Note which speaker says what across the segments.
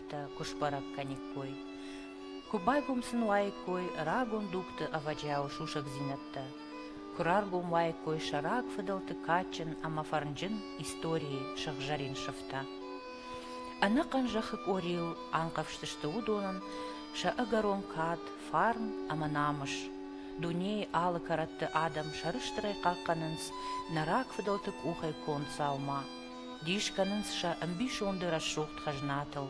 Speaker 1: фӕлгӕтттӕ куы сбӕрӕг кӕниккой, куы байгом сын уаиккой рагон дугты ӕвӕджиауы сусӕгдзинӕдтӕ, куы раргом уаиккой сӕ рагфыдӕлты кадджын ӕмӕ фӕрнджын историйы сыгъзӕрин сыфтӕ. Ӕнӕхъӕн зӕххы къорийыл анхъӕвзтысты уыдонӕн сӕ ӕгӕрон кад, фарн ӕмӕ намыс. Дунейы алы кӕрӕтты адӕм сӕрыстырӕй хъахъхъӕнынц нӕ рагфыдӕлты къухӕй конд дзаума, Дис кӕнынц сӕ ӕмбисонды рӕсугъд хӕзнатыл.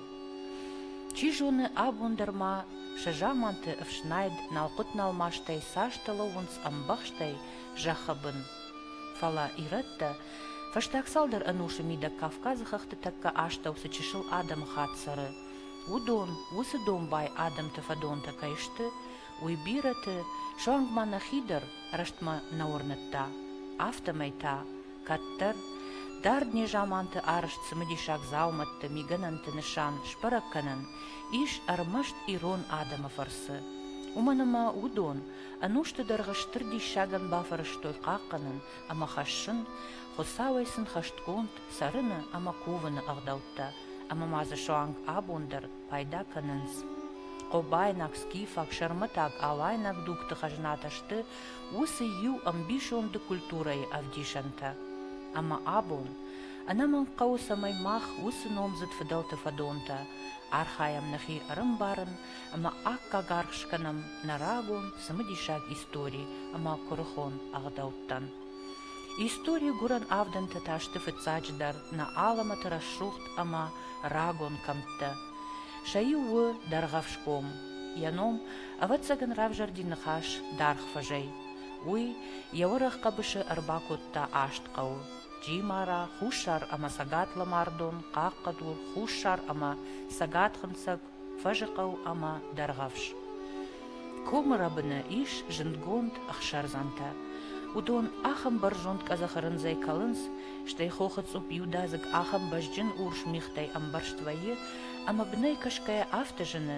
Speaker 1: Чи зоны, абон дӕр ма сӕ заманты ӕфснайд налхъуыт-налмастӕй цасты лӕууынц ӕмбӕхстӕй зӕххы бын. Фӕлӕ ирӕттӕ фӕстаг цалдӕр ӕнусы мидӕг Кавказы хӕхты тӕккӕ астӕу цы чысыл адӕмыхатт цӕры, уыдон, уыцы домбай адӕмты фӕдонтӕ кӕй сты, уый бирӕты суанг ма нӕхи дӕр рӕстмӕ нӕ уырныдта, афтӕмӕй та Кӕддӕр, дард незаманты арызт цымыдисаг дзаумӕтты мигӕнӕнты нысан сбӕрӕг кӕнӕн ис ӕрмӕст ирон адӕмы фӕрцы. Уымӕн ӕмӕ уыдон ӕнусты дӕргъы стыр диссагӕн бафӕрӕзтой хъахъхъӕнын ӕмӕ хӕссын Хуыцауӕй сын хӕстгонд цӕрыны ӕмӕ кувыны ӕгъдӕуттӕ, ӕмӕ ма дзы суанг абон дӕр пайда кӕнынц. Хъобайнаг, скифаг, сӕрмӕтаг, алайнаг дугты хӕзнатӕ сты уыцы иу ӕмбисонды культурӕйы ӕвдисӕнтӕ. Ӕмӕ абон ӕнӕмӕнг хъӕуы, цӕмӕй мах уыцы номдзыд фыдӕлты фӕдонтӕ архайӕм нӕхи ӕрӕмбарын ӕмӕ аккаг аргъ скӕнӕм нӕ рагон цымыдисаг истори ӕмӕ куырыхон ӕгъдӕуттӕн. Истори гуырӕн авдӕнтӕ та сты фыццаджыдӕр нӕ алӕмӕты рӕсугъд ӕмӕ рагон кӕмттӕ. Сӕ иу у Дӕргъӕфсгом, йӕ ном Ӕвӕццӕгӕн равзӕрди ныхас даргъ фӕзӕй. Уый йӕ уӕрӕх хъӕбысы ӕрбакодта аст хъӕуы, Джимара, хуссар ӕмӕ цӕгат-лӕмӕрдон, хъахъхъӕдур, хуссар ӕмӕ цӕгатхынцӕг, фӕзыхъӕу ӕмӕ дӕргъӕвс. Комы рӕбыны ис зындгонд ӕхсӕрдзӕнтӕ. Уыдон ахӕм бӕрзонд къӕдзӕхы рындзӕй кӕлынц, стӕй хохы цъупп иудадзыг ахӕм бӕзджын урс мигътӕй ӕмбӕрзт вӕййы, ӕмӕ бынӕй кӕсгӕйӕ афтӕ зыны,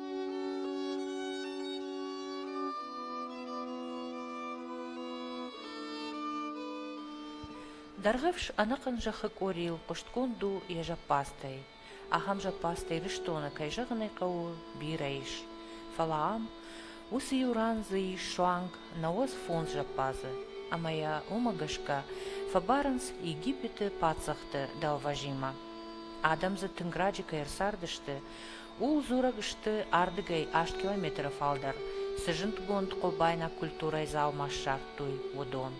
Speaker 1: Дӕргъӕвс ӕнӕхъӕн зӕххы къорийыл хъуыстгонд у йӕ зӕппадзтӕй. Ахӕм зӕппадзтӕй рыстоны, кӕй зӕгъын ӕй хъӕуы, бирӕ ис. Фӕлӕ ам уыцы иу ран дзы ис суанг науӕдз фондз зӕппадзы, ӕмӕ йӕ уымӕ гӕсгӕ фӕбарынц Египеты паддзӕхты дӕлвӕзимӕ. Адӕм дзы тынг раджы кӕй ӕрцардысты, Ууыл дзурӕг сты ардыгӕй аст километры фалдӕр цы зындгонд хъобайнаг культурӕйы дзаума ссардтой, уыдон.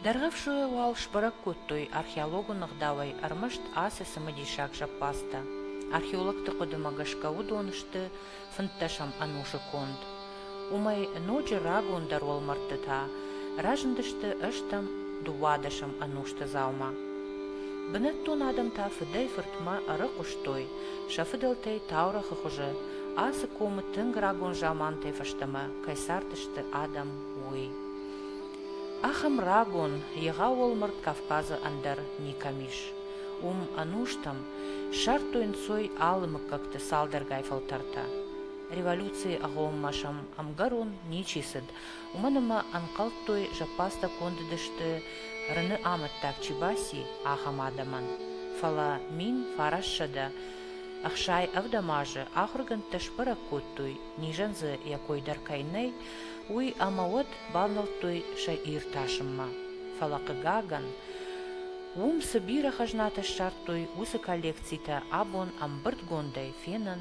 Speaker 1: Дӕргъӕвсойӕ уал сбӕрӕг кодтой археологон ӕгъдауӕй ӕрмӕст ацы цымыдисаг зӕппӕдзтӕ. Археологты хъуыдымӕ гӕсгӕ уыдон сты фынддӕсӕм ӕнусы конд. Уымӕй ноджы рагондӕр уӕлмӕрдтытӕ разындысты ӕстӕм, дыууадӕсӕм ӕнусты дзаума. Бынӕттон адӕм та фыдӕй-фыртмӕ ӕрыхъуыстой сӕ фыдӕлтӕй таурӕгъы хуызы, ацы комы тынг рагон замантӕй фӕстӕмӕ кӕй цардысты адӕм, уый. Ахӕм рагон, егъау уӕлмӕрд Кавказы ӕндӕр никӕм ис. Уым ӕнустӕм ссардтой ӕнцой алы мыггӕгты цалдӕргай фӕлтӕртӕ. Революцийы агъоммӕ сӕм ӕмгӕрон ничи цыд, уымӕн ӕмӕ ӕнхъӕлдтой, зӕппӕдзтӕ кондыдысты, Рыны амӕттаг чи баци, ахӕм адӕмӕн. Фӕлӕ мин фарассӕдӕ ӕхсай ӕвдӕм азы ахуыргӕндтӕ сбӕрӕг кодтой, низӕн дзы йӕ кой дӕр кӕй нӕй, уый ӕмӕ уӕд бавнӕлдтой сӕ иртасынмӕ. Фӕлӕ, хъыгагӕн, уым цы бирӕ хӕзнатӕ ссардтой, уыцы коллекцитӕ абон ӕмбырдгондӕй фенын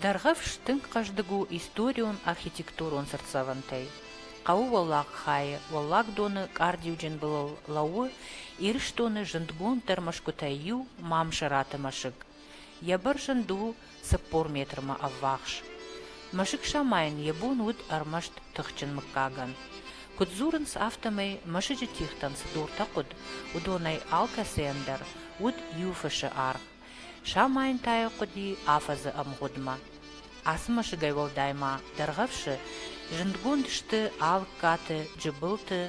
Speaker 1: Дӕргъӕвс тынг хъӕздыг у историон-архитектурон цыртдзӕвӕнтӕй. Хъӕуы уӕллаг хайы, уӕллагдоны къардиуджын былыл лӕууы Ирыстоны зындгонддӕр мӕсгуытӕй иу Мамсыраты мӕсыг. Йӕ бӕрзӕнд у цыппор метрмӕ ӕввахс. Мӕсыг самайын йӕ бон уыд ӕрмӕст тыхджын мыггагӕн. Куыд дзурынц, афтӕмӕй мӕсыджы тихтӕн цы дуртӕ хъуыд, уыдонӕй алкӕцыйӕн дӕр уыд иу фысы аргъ. Самайын та йӕ хъуыди афӕдзы ӕмгъуыдмӕ. Ацы мӕсыгӕй уӕлдай ма дӕргъӕвсы зындгонд сты Алыккаты, Джыбылты,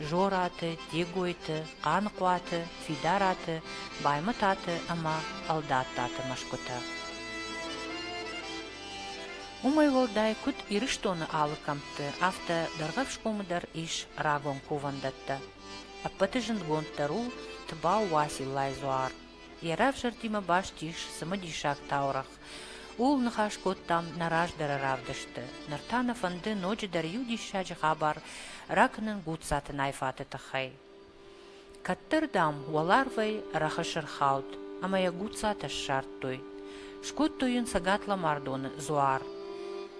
Speaker 1: Жораты, Дегойты, Хъанхъуаты, Фидараты, Баймытаты ӕмӕ Ӕлдаттаты мӕсгуытӕ. Уымӕй уӕлдай куыд Ирыстоны алы кӕмтты, афтӕ Дӕргъӕвсгомы дӕр ис рагон кувӕндӕттӕ. Ӕппӕты зындгонддӕр у Тыбау Уациллайы дзуар. Йӕ равзӕрдимӕ баст ис цымыдисаг таурӕгъ. Ууыл ныхас кодтам нӕ раздӕры равдысты. Ныр та нӕ фӕнды ноджыдӕр иу диссаджы хабар ракнын Гуццаты Найфаты тыххӕй. Кӕддӕр, дам, уӕларвӕй рӕхысы рхауд, ӕмӕ йӕ Гуццатӕ ссардтой. скодтой йын цӕгат-ломардоны дзуар.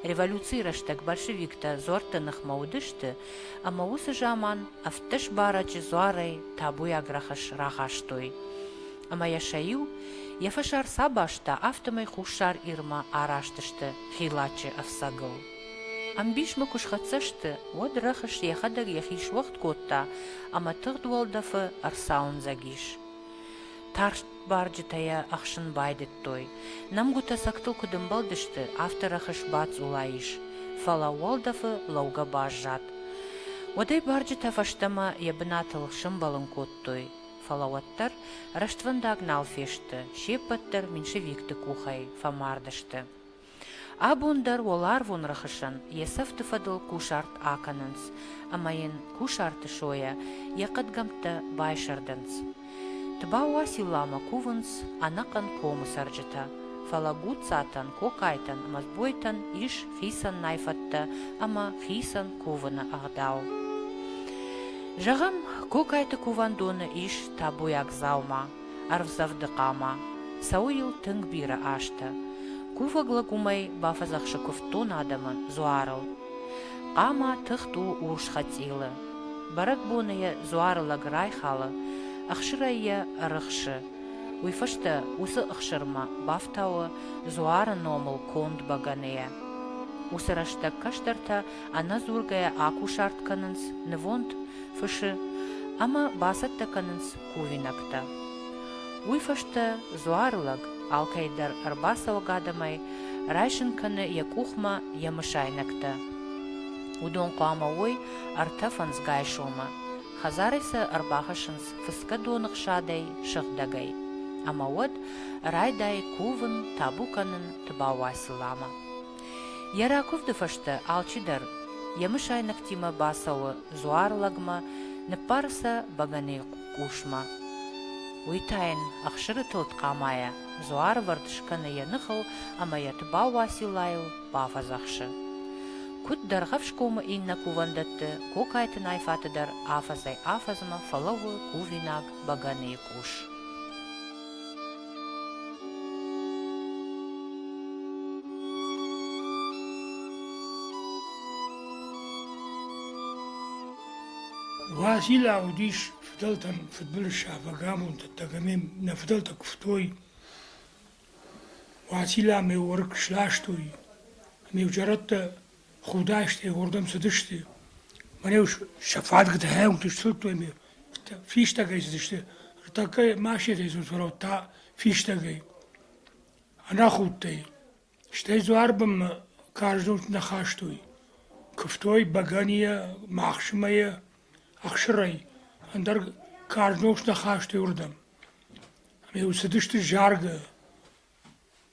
Speaker 1: Революцийы рӕстӕг большевиктӕ дзуӕртты ныхмӕ уыдысты, ӕмӕ уыцы заман ӕвддӕс барӕджы дзуарӕй табуйаг рӕхыс рахастой. Ӕмӕ йӕ сӕ иу, йӕ фӕсар цы абаста, афтӕмӕй Хуссар Ирмӕ араст сты Хилаччы ӕфцӕгыл. Ӕмбисмӕ куы схӕццӕ сты, уӕд рӕхыс йӕхӕдӕг йӕхи суӕгъд кодта ӕмӕ тыгъд уӕлдӕфы ӕрцауындзӕг ис. Тарст Барджытӕ йӕ ӕхсын байдыдтой. Нӕмгуытӕ сӕгтыл куыд ӕмбӕлдысты, афтӕ рӕхыс бацъула ис, фӕлӕ уӕлдӕфы лӕугӕ баззад. Уӕдӕй барджытӕ фӕстӕмӕ йӕ бынатыл сӕмбӕлын кодтой, фӕлӕ уӕддӕр рӕствӕндаг нал фесты, се ппӕт дӕр меньшевикты къухӕй фӕмард сты. Абон дӕр уӕларвон рӕхысӕн йӕ сӕфты фӕдыл кусарт акӕнынц ӕмӕ йын кусарты сойӕ йӕ хъӕдгӕмттӕ байсӕрдынц. Тбауа-Силламӕ кувынц ӕнӕхъӕн комы цӕрджытӕ, фӕлӕ гуццатӕн, кокайтӕн ӕмӕ сбойтӕн ис хицӕннай фӕдтӕ ӕмӕ хицӕн кувыны ӕгъдау. Зӕгъӕм, кокайты кувӕндоны ис табуйаг дзаума, ӕрвдзӕгъды хъама. Цӕуы йыл тынг бирӕ азтӕ. Кувӕг лӕг уымӕй бафӕдзӕхсы куывддон адӕмы дзуарыл. Хъама тыхт у урс хӕцъилы. Бӕрӕгбоны йӕ дзуары лӕг райхалы, ӕхсырӕй йӕ ӕрыхсы. Уый фӕстӕ уыцы ӕхсырмӕ бафтауы дзуары номыл конд бӕгӕныйӕ. Уыцы рӕстӕг кӕстӕртӕ ӕнӕдзургӕйӕ акусарт кӕнынц, нывонд фысы ӕмӕ бацӕттӕ кӕнынц кувинӕгтӕ. Уый фӕстӕ дзуары лӕг алкӕй дӕр ӕрбацӕуӕг адӕмӕй райсын кӕны йӕ къухмӕ йӕ мысайнӕгтӕ. Уыдон хъуамӕ уой ӕртӕ фӕндзгай сомы. Хӕдзарӕй сӕ ӕрбахӕссынц фыцгӕ доныхсадӕй сыгъдӕгӕй. Ӕмӕ уӕд райдайы кувын, табу кӕнын Тыбауай-Сыламы. Йӕ ракуывды фӕстӕ алчидӕр йӕ мысайнӕгтимӕ бацӕуы дзуар лӕгмӕ, ныббары сӕ бӕгӕныйы къусмӕ. Уый та йын ӕхсыры тылд хъамайӕ дзуарвӕрд скӕны йӕ ныхыл ӕмӕ йӕ Тыбау Уациллайыл бафӕдзӕхсы. Куыд Дӕргъӕфсгомы иннӕ кувӕндӕтты, Гокайты Найфаты дӕр афӕдзӕй-афӕдзмӕ фӕлӕууы кувинаг бӕгӕныйы къус. Уазила уыдис фыдӕлтӕн фыдбылызсафӕг амонддӕттӕг ӕмӕ нӕ фыдӕлтӕ куывтой. Уацилла ме уӕрг сластой, ӕмӕ иу зӕрӕдтӕ худастӕй уырдӕм цыдысты. Мӕн-иу сӕ фадыг дӕхӕмгты сдзырдтой ме фистӕгӕй цыдысты. Ныртӕккӕ машинӕйы дзур фӕлӕуд та фистӕгӕй. Ӕнахудтӕй. Стӕй дзуар бынмӕ карз дуг нӕ хастой. Куывтой бӕгӕныйӕ, мӕхсымӕйӕ, ӕхсырӕй. Ӕндӕр карз ног нӕ хастой уырдӕм. Ӕмӕ-иу цыдысты заргӕ.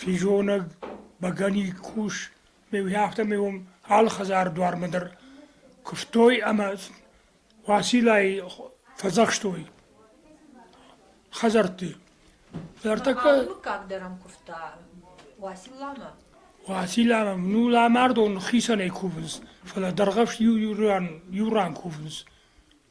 Speaker 1: Физонӕг бӕгӕныйы къус афтӕ ме алхӕдзар дуармӕ дӕр куыстой ӕмӕ Уациллайы фӕдзӕхстой хӕдзӕртты. Мыггаг дӕр ӕм куывта Уацилламӕ? Уацилламӕ ну lamардон хицӕнӕй кувынц, фӕлӕ дӕргъӕвст иу ран кувынц.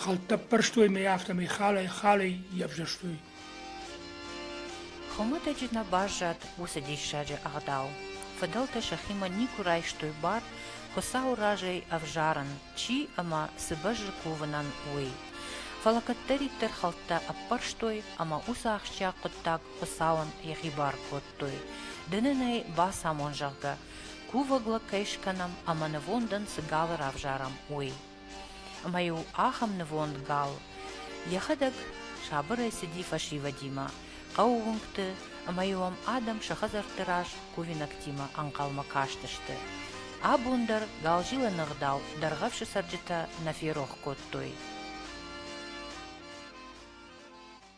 Speaker 1: Хӕлттӕ ппӕрстой мӕ афтӕмӕй халӕй-халӕй йӕвзӕрстой. Хуымӕтӕджы нӕ баззад уыцы диссаджы ӕгъдау. Фыдӕлтӕ сӕхимӕ никуы райстой бар Хуыцауы разӕй ӕвзарын, чи ӕмӕ цы бӕззы кувынӕн, уый. Фӕлӕ кӕддӕриддӕр хӕлттӕ ӕппӕрстой ӕмӕ уыцы ахсджиаг хъуыддаг Хуыцауӕн йӕхи бар кодтой. Ды нын ӕй бацамон, зӕгъгӕ, кувӕглӕ кӕй скӕнӕм ӕмӕ нывондӕн цы галы равзарӕм, уый. Ӕмӕ-иу ахӕм нывонд гал йӕхӕдӕг сабырӕй цыди фӕсивӕдимӕ, хъӕуы уынгты, ӕмӕ-иу ӕм адӕм сӕ хӕдзӕртты раз кувинӕгтимӕ ӕнхъӕлмӕ кастысты. Абон дӕр галзилӕн ӕгъдау дӕргъӕвсы цӕрджытӕ нӕ ферох кодтой.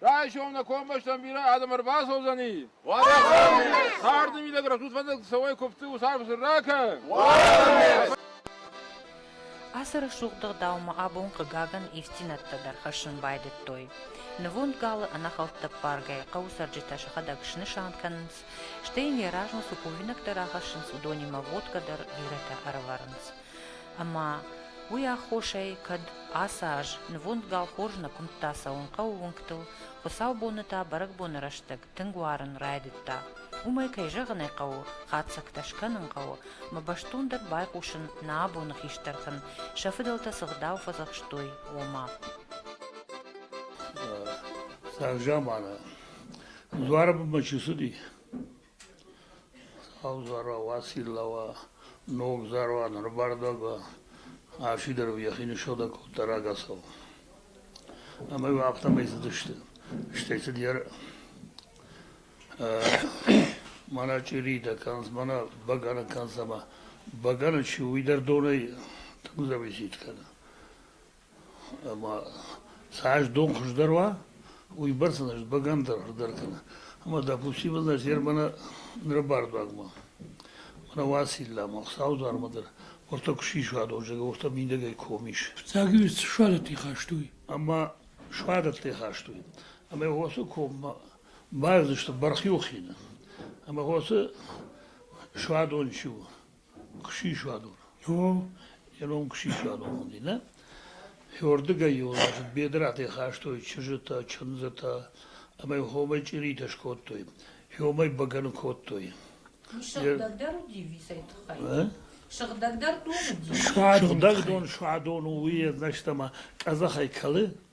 Speaker 1: Райшов на коммощном мира адам ӕрбацӕудзӕни. Царды мидӕг рӕсутвӕндӕг цӕуӕй купты усарф рака. Ацы рӕсугъддӕр даумӕ абон хъыгагӕн ифтинӕттӕ дӕр хӕссын байдыдтой. Нывонд галы ӕнӕхӕлдтӕппаргӕй хъӕуы цӕрджытӕ сӕхӕдӕг снысан кӕнынц, стӕй йын Еразмус у кувинӕгтӕ рахӕссынц, уыдонимӕ водкӕ дӕр бирӕтӕ ӕрӕвӕрынц. Ӕмӕ уый аххосӕй, кӕд ацы аз нывонд гал хорз нӕ куымдта цӕуын хъӕуы уынгтыл, хуыцаубоны та бӕрӕгбоны рӕстӕг тынг уарын райдыдта. Уымӕй, кӕй зӕгъын ӕй хъӕуы, хатдзӕгтӕ скӕнын хъӕуы, мӕ бӕстондӕр байхъусын нӕ абоны хистӕртӕн, сӕ фыдӕлтӕ цы гъдау фӕдзӕхстой, ома. Цавзаманы дуары бынмӕ чи цыди, Сау зуарау асилла уа, ног зӕронд ӕрбардӕ ба, ӕ фидар йӕхи нысодӕ кодта рагацау. Ӕмӕ иу афтӕмӕй цыдысты. Стӕй цыд йӕ мӕнӕ чъиритӕ кӕнынц, мӕнӕ бӕгӕны кӕнынц ӕмӕ бӕгӕны чи у, уый дӕр донӕй тынгдӕр визит кӕны. ӕма сӕ ӕз дон хуӕздӕр уа, уойбӕрцӕ нӕ бӕгӕндӕр хуӕздӕр кӕнӕ. Ӕма, допустим, нӕ зермӕнӕ нӕ бардуаг ма, мӕнӕ Уацилла ма Хуцау дӕрмӕ дӕр, уотӕ куд сисуадонзагӕ, уотӕ миндӕгӕй комис. Фиццагиуст суадӕтти хастуй. Ӕма суадӕттӕй хастуй. Ӕма уоцы коммӕ баздзыстӕ бархиохинӕ. Ӕма уоцы суадон ци у? Кусисуадон. О, ирон кусисуадон уыди, нӕ? Уырдыгӕй йыл бедратӕй хастой чызджытӕ, чындзытӕ ӕмӕ йыл хомӕй чъиритӕ скодтой, хомӕй бӕгӕны кодтой. Сыгъдӕгдӕр уыди висӕй тыххӕй? Ӕ? Сыгъдӕгдӕр дон уыди? Сыгъдӕг дон, суадон у, уый ӕрмӕст ӕмӕ къӕдзӕхӕй кӕлы.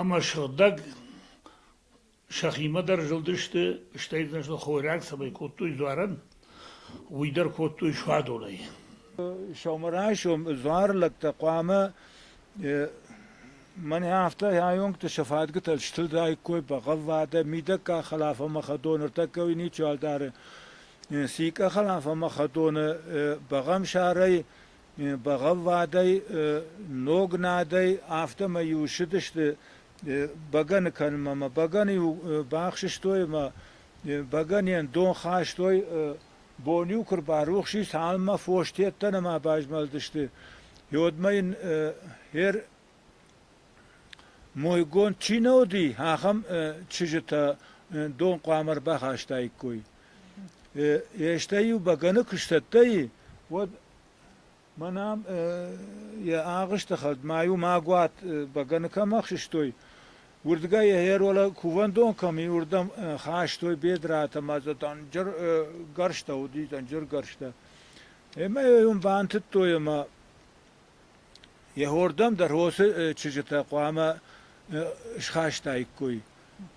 Speaker 1: ӕмӕ сыгъдӕг сӕхимӕ дӕр зылдысты, стӕй значит, хойраг цӕмӕй кодтой дзуарӕн, уый дӕр кодтой суадонӕй. Сӕумӕрайсом дзуар лӕгтӕ хъуамӕ мӕнӕ афтӕ аёнгты сӕ фадгытӕ стылдаиккой бӕгъӕввадӕ, мидӕггаг хӕлафонмӕ хӕдон ӕртӕккӕуи ничиуал дары. Сикъа хӕлафонмӕ хӕдоны бӕгъӕмсарӕй бӕгъӕввадӕй, ног надӕй, афтӕмӕй-иу ссыдысты бӕгӕны кӕнынмӕ. Мӕ бӕгӕны-иу бахсыстой ӕмӕ бӕгӕнийӕн дон хастой, бон-иу куы рбарухс и, цалынмӕ фос тедтӕ нӕма базмӕлдысты, уӕдмӕ йын хер Мойгонд чи нӕ уыди, ахӕм чызджытӕ дон хъуамӕ ӕрбахастаиккой. Стӕй-иу бӕгӕны куы сцӕттӕйы, уӕд мӕн ам йӕ агъуысты хӕд ма-иу магуат бӕгӕны кӕм ӕхсыстой, уырдыгӕй йӕ кувӕндон кӕм и, уырдӕм хастой бедраты ӕмӕ дзы дӕнджыр гӕрзтӕ уыди, дӕнджыр гӕрзтӕ. Ӕмӕ йӕ уым бантыдтой ӕмӕ Йе'хордӕм дӕр уыцы чызджытӕ хъуамӕ схастаиккой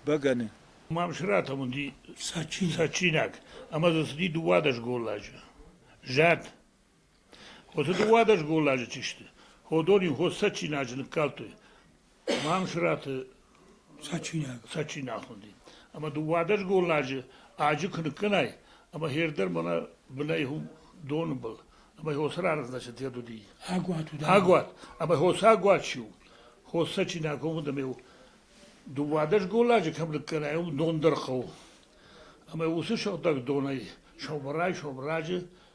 Speaker 1: бӕгӕны. Мамсыратӕм уыди цӕджындзаг ӕмӕ дзы цыди дыууадӕс голладжы. Зӕд. Уыцы дыууадӕс голладжы чи сты, уыдон-иу сӕ чинаджы ныккалдтой. Мамсыраты Сачинаг. Сачинаг уыди. Ӕмӕ дыууадӕс голладжы аджы куы ныккӕнай, ӕмӕ хер дӕр мӕнӕ бынӕй у доны был. Ӕмӕ хосы раргъдзӕнӕсӕт йӕ дуди. Агуат уыд. Агуат. Ӕмӕ хос агуат чи у? Хос Сачинаг хъуыд ӕмӕ дыууадӕс голладжы кӕм ныккӕнай, уым дон дӕр хъӕуы. Ӕмӕ уыцы сыгъдӕг донӕй сӕубырӕй-сӕубырӕджы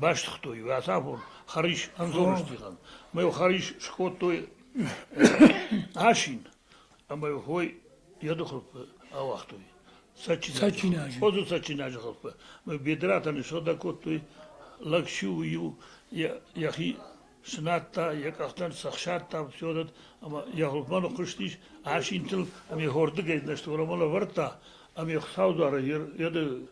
Speaker 1: Бастыгътой уый ацафон хӕрис Андзоры стихӕн, ӕмӕ йыл хӕрис скодтой асин ӕмӕ йыл хой йӕ дыхылфы ауагътой цӕджындзы. Хъодзы цӕджындзы хылфы. Ӕмӕ бедратӕн ссыгъдӕг кодтой лӕг-сиу иу йӕхи снадта, йӕ къӕхтӕн сӕхсадта все дӕр, ӕмӕ йӕ хуылфмӕ ныхъхъуыстис асинтыл ӕмӕ йӕ хордыгӕй нозтуромӕн ӕвӕрдта, ӕмӕ йӕ Хуыцау дуарӕй йӕ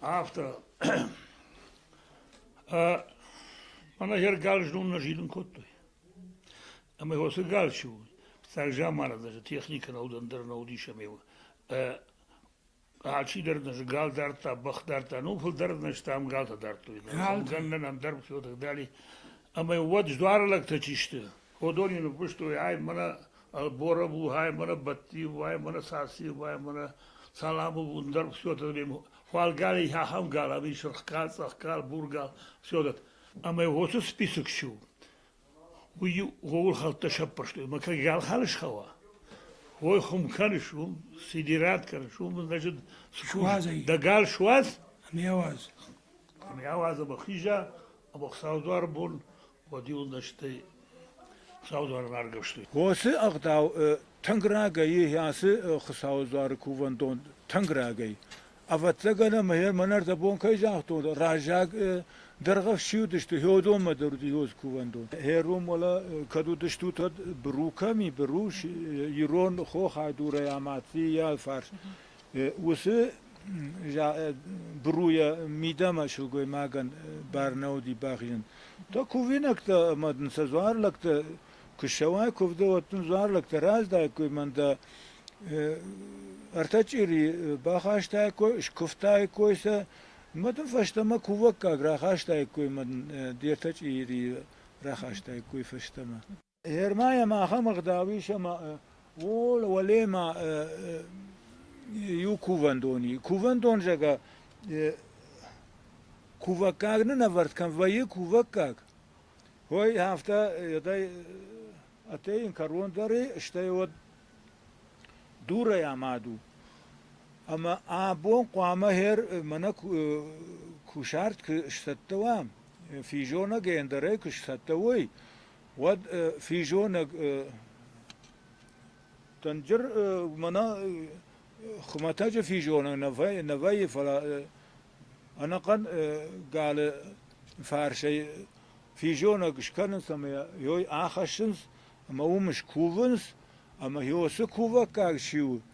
Speaker 1: Афтӕ мӕнӕ йе ргал знон нӕ зилын кодтой. Ӕмӕ уыцы гал чи у, фыццаг заманы дӕр техникӕ нӕ уыд, ӕндӕр нӕ уыдис ӕмӕ алчидӕр нӕ гал дардта, бӕх дардта, ну фылдӕр нӕ стӕм галтӕ дардтой. Гӕнӕн ӕндӕр все дали. Ӕмӕ уӕд дзуары лӕгтӕ чи сты, уыдон йын ныффыстой, ай мӕнӕ Ӕлборӕ бухаймӕрӕ, Бӕттиу уаймӕрӕ, Сасиу уаймӕрӕ, Саламу бундӕр, все вот это время хуалгали ахӕм гал, ами сырхгал, цъӕхгал, бургал, все вот это. Ӕмӕ уыцы список чи у, уый ууыл хӕлттӕ сӕппӕрстой. Ӕмӕ кӕд галханы схауа, уой хуым кӕныс, уым сидират кӕныс, уым, значит, Суадзай. дӕ гал суадз, Ами ауадз. ами ауадз ӕмӕ хиза, ӕмӕ Хуыцауы дуар бон Уоцы ӕгъдау тынг рагӕй и ацы Хуыцауы дзуары кувӕндон тынг рагӕй. Ӕвӕццӕгӕн ӕмӕ мӕн ӕрдӕбон кӕй загътон, раззаг дӕргъӕф чи уыдысты, Хеодонмӕ дӕр уыди Иоз кувӕндон. Ӕром уӕлӕ кӕд уыдыстут, уӕд Бру кӕми, Бруш, ирон хохӕй дурӕй амадти йӕ фарс. Уыцы бруя мидӕмӕ сылгоймагӕн бар нӕ уыди бахизын. То кувинӕгтӕ ӕмӕ дын сӕ дзуарлӕгтӕ куы ссӕуай куывды, уӕд дын дзуарлӕгтӕ раздаиккой мӕн дӕ ӕртӕ чъири бахастаиккой, скуывтаиккой сӕ, мӕ дын фӕстӕмӕ кувӕггаг рахастаиккой мӕ дын де ртӕ чъири рахастаиккой фӕстӕмӕ. Германием ахӕм ӕгъдау ис, ӕмӕ уӕлеймӕ иу кувӕндон и. Кувӕндон зӕгӕ кувӕггаг нын ӕвӕрд кӕн, вӕййы кувӕггаг. Ой, афтӕ едӕй атӕй ин кӕрон дӕр и, стӕй уӕд дурӕй амад у. Ӕмӕ абон хъуамӕ хер мӕнӕ кусарт куы сцӕттӕ уа, физонӕг ӕндӕрӕй куы сцӕттӕ уой, уӕд физонӕг тӕнджыр мӕнӕ хуымӕтӕджы физонӕг нӕ вӕййы фӕлӕ ӕнӕхъӕн галы фарсӕй физонӕг скӕнынц ӕмӕ йой ахӕссынц ӕмӕ уым скувынц ӕмӕ йо цы кувӕггаг чи у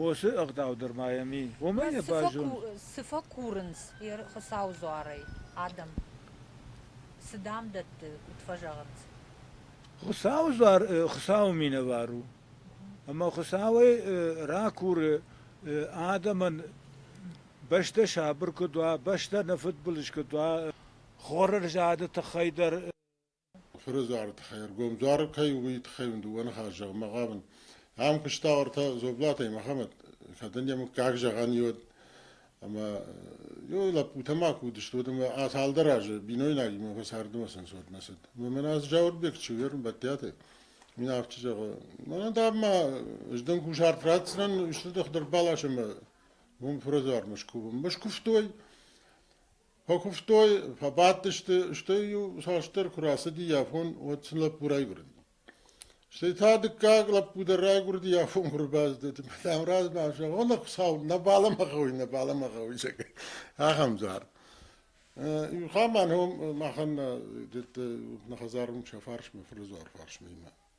Speaker 1: Уосы ӕгъдау дӕр ма йӕм и. Уымӕн йӕ бӕззон. Цы фӕкурынц Хуыцауы дзуарӕй адӕм? Цы дӕм дӕтты, куыд фӕзӕгъынц? Хуыцауы дзуар Хуыцауы минӕвар у. Ӕмӕ Хуыцауӕй ракуры адӕмӕн, бӕстӕ сабыр куыд уа, бӕстӕ нӕ фыдбылыз куыд уа, хоры рзады тыххӕй дӕр. фырызарыд хӕргом дзуары кӕй у, уый тыххӕй уын дыууӕ ныхасы зӕгъынмӕ хъавын. Ам куыста ӕртӕ Зоблатӕй Мӕхӕмӕт, кӕд ын йӕ мыггаг зӕгъӕн и, уӕд. Ӕмӕ йыл лӕппутӕ ма куы уыдысты, уӕд ӕмӕ цалдӕр азы бинойнагимӕ фӕсӕрдымӕ сӕнцод нӕ цыд. Мамыназ Джауырбег чи у, йе рмбӕттиаты, уый афтӕ зӕгъы, мӕнӕ дам ма ӕз дын кусарт ратдзынӕн, исты дых дӕр балас ӕмӕ уым фырӕдзуармӕ скувын. Скуывтой, Фӕкуывтой, фӕбадтысты, стӕй-иу цасдӕр куы рацыди афон, уӕд сын лӕппу райгуырди. Стӕй та дыккаг лӕппу дӕр райгуырди афонмӕ ӕрбаздӕхти, мадам размӕ зӕгъ, нӕ Хуыцау, нӕ баламӕ гъӕуй, нӕ баламӕ гъӕуй, зӕгъгӕ, ахӕм дзуар. Иухамӕн уым махӕн дӕтты нӕ хӕдзар уым сӕ фарсмӕ, фырдзуар фарсмӕ имӕ.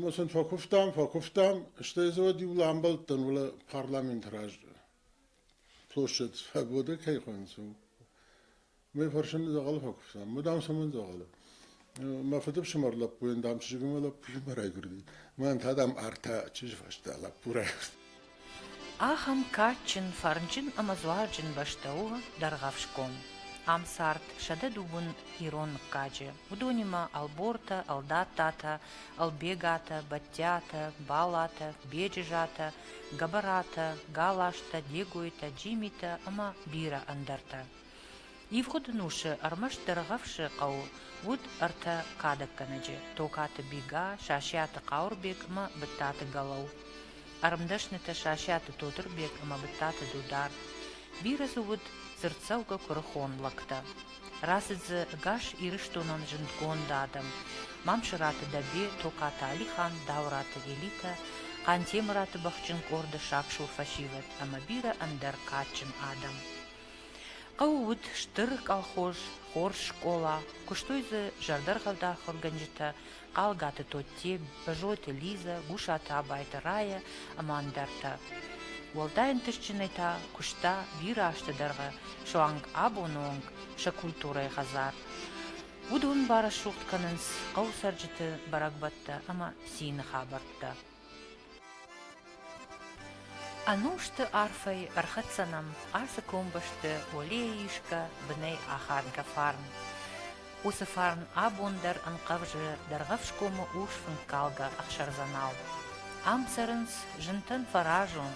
Speaker 1: Ма сын фӕкуывтам, фӕкуывтам, стӕй дзы уӕд иу ламбӕлд дӕн, уӕлӕ парламенты раз площад свобода кӕй хуыйнынц, уый фӕрсын дзӕгъӕлы фӕкуывтам. Ма дам цӕмӕн дзӕгъӕлы? Мӕ фыдыфсымӕр лӕппуйӕн, дам, чызгимӕ лӕппу не райгуырди. Мӕн та, дам, ӕртӕ чызджы фӕстӕ лӕппу райгуырд. Ахӕм кадджын, фӕрнджын ӕмӕ дзуарджын бӕстӕ у Дӕргъӕфсгом. Ам цард сӕдӕ дыууын ирон мыггаджы. Уыдонимӕ Ӕлбортӕ, Ӕлдаттатӕ, Ӕлбегатӕ, Бӕттиатӕ, Балатӕ, Беджызатӕ, Гӕбӕратӕ, Галазтӕ, Дегойтӕ, Джимитӕ ӕмӕ бирӕ ӕндӕртӕ. Ивгъуыд ӕнусы ӕрмӕст Дӕргъӕвсы хъӕуы уыд ӕртӕ кадӕггӕнӕджы – Токаты Бига, Сасиаты Хъауырбег ӕмӕ Быдтаты Галау, ӕрмдӕснытӕ Сасиаты Тотырбег ӕмӕ Быдтаты Дудар. Бирӕ дзы уыд дзырддзӕугӕ куырыхон лӕгтӕ. Рацыд дзы ӕгас Ирыстонон зындгонд адӕм – Мамсыраты Дӕбе, Токаты Алихан, Дауыраты Элитӕ, Хъантемыраты бӕхджын къорды сагсур фӕсивӕд ӕмӕ бирӕ ӕндӕр кадджын адӕм. Хъӕуы уыд стыр колхоз, хорз скъола, куыстой дзы зӕрдӕргъӕвд ахуыргӕнджытӕ Хъалгаты Тотте, Бӕзойты Лизӕ, Гусаты Абайты Рая ӕмӕ ӕндӕртӕ. Уӕлдай ӕнтыстджынӕй та куыста бирӕ азты дӕргъы суанг абоны онг сӕ культурӕйы хӕдзар. Уыдон барӕсугъд кӕнынц хъӕуы цӕрджыты бӕрӕгбӕттӕ ӕмӕ цины хабӕрттӕ. Ӕнусты арфӕй ӕрхӕццӕ нӕм ацы комбӕсты уӕлейы исгӕ бынӕй ахадгӕ фарн. Уыцы фарн абон дӕр ӕнхъӕвзы Дӕргъӕфсгомы урс фынккалгӕ ӕхсӕрдзӕнау. Ам цӕрынц зынтӕн фӕразон,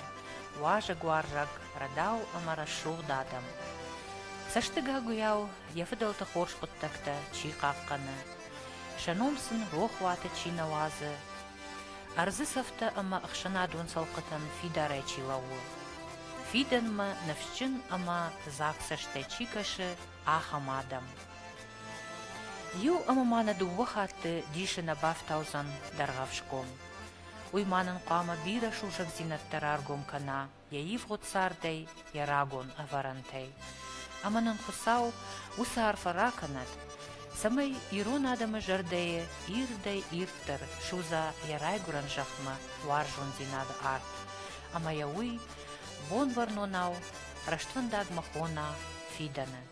Speaker 1: уазӕгуарзаг, рӕдау ӕмӕ рӕсугъд адӕм. Цӕстыгагуыйау йӕ фыдӕлты хорз хъуыддӕгтӕ чи хъахъхъӕны, сӕ ном сын рохуаты чи нӕ уадзы, Ӕрдзы цӕфтӕ ӕмӕ ӕхсӕнадон цӕлхъытӕн фидарӕй чи лӕууы, фидӕнмӕ ныфсджын ӕмӕ дзаг цӕстӕй чи кӕсы, ахӕм адӕм. Иу ӕмӕ ма нӕ дыууӕ хатты дисы нӕ бафтаудзӕн Дӕргъӕвсгом. Уый ма нын хъуамӕ бирӕ сусӕгдзинӕдтӕ раргом кӕна, йӕ ивгъуыд цардӕй, йӕ рагон ӕвӕрӕнтӕй. Ӕмӕ нын Хуыцау уыцы арфӕ ракӕнӕд, цӕмӕй ирон адӕмы зӕрдӕйы ирдӕй-ирддӕр судза йӕ райгуырӕн зӕхмӕ уарзондзинады арт ӕмӕ йӕ уый, Бонвӕрнонау, рӕствӕндагмӕ хона фидӕны.